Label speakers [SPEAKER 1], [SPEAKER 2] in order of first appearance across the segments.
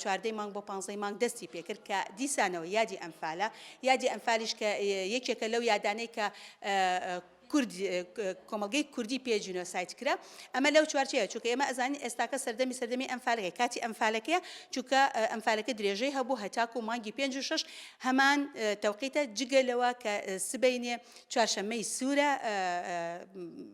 [SPEAKER 1] چواردەی مانگ بۆ پانزەی مانگ دەستی پێکرد کە دیسانەوە یادی ئەنفالە یادی ئەنفالیش کە یەکێکە لەو یادانەی کە کۆمەلگەی کوردی پێ جینۆسایت کرا ئەمە لەو چوارچەیە چونکە ئێمە ئەزانین ئێستاکە سەردەمی سەردەمی ئەمفالەکە کاتی ئەمفالەکەیە چونکە ئەمفالەکە درێژەی هەبوو هەتاکو و مانگی پێنج و شش هەمان تەوقیتە جگە لەوە کە سبینێ چوارشەمەی سوورە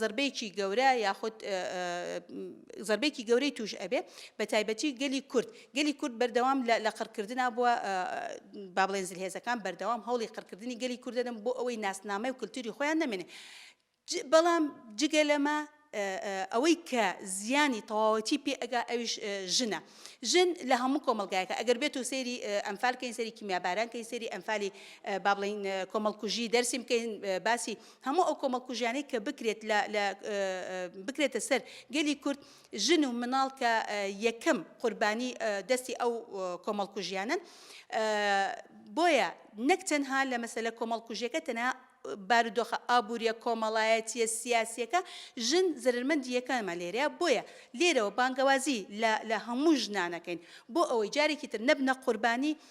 [SPEAKER 1] زەربەیەکی گەورە یاخود زەربەیەکی گەورەی توش ئەبێ بەتایبەتی گەلی کورد گەلی کورد بەردەوام لە قڕکردنا بووە بابلێن زلهێزەکان بەردەوام هەوڵی قڕکردنی گەلی کوردەدەم بۆ ئەوەی ناسنامەی و کللتوری خۆیان نەمێنێ بەڵام جگە لەمە ئەوەی کە زیانی تەواوەتی پێ ئەگا ئەویش ژنە ژن لە هەموو کۆمەلگایەکە ئەگەر بێت و سێری ئەمفالکەین سەری کیمیابارانکەی سێری ئەمفالی بابلین کۆمەڵکوژی دەرسیم کەین باسی هەموو ئەو کۆمەڵکوژیانەی کە بکرێت لە لە بکرێتە سەر گەلی کورد ژن و مناڵ کە یەکەم قوربانی دەستی ئەو کۆمەڵکوژیانن بۆیە نەک تەنها لە مەسەلە کۆمەڵکوژیەکە تەنها بارودۆخە ئابوووریە کۆمەڵایەتیە سیاسیەکە ژن زرمەندیەکانمە لێرەیە بۆیە لێرەوە بانگەوازی لە هەموو ژنانەکەین بۆ ئەوەی جارێکی تر نەبنە قوربانی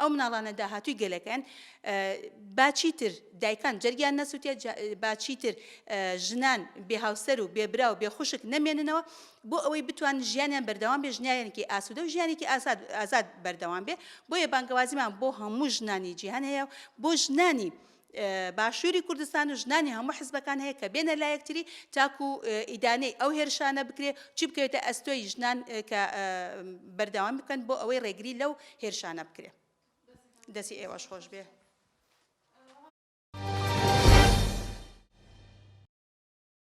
[SPEAKER 1] ئەو مناڵانە داهاتووی گەلەکەن با چیتر دایکان جەرگیان نەسووتێت با چیتر ژنان بێ هاوسەر و بێبرا و بێ خوشک نەمێننەوە بۆ ئەوەی بتوان ژیانیان بەردەوام بێ ژنیانێکی ئاسوودە و ژیانێکی ئازاد ئازاد بەردەوام بێ بۆیە بانگەوازیمان بۆ هەموو ژنانی جیهان هەیە بۆ ژنانی باشوری کوردستان و ژنانی هەموو حزبەکان هەیە کە بێنە لایەکتری تاکو ئیدانەی ئەو هێرشانە بکرێ چی بکەوێتە ئەستۆی ژنان کە بەردەوام بکەن بۆ ئەوەی ڕێگری لەو هێرشانە بکرێ دەسی ئێوەش خۆش بێ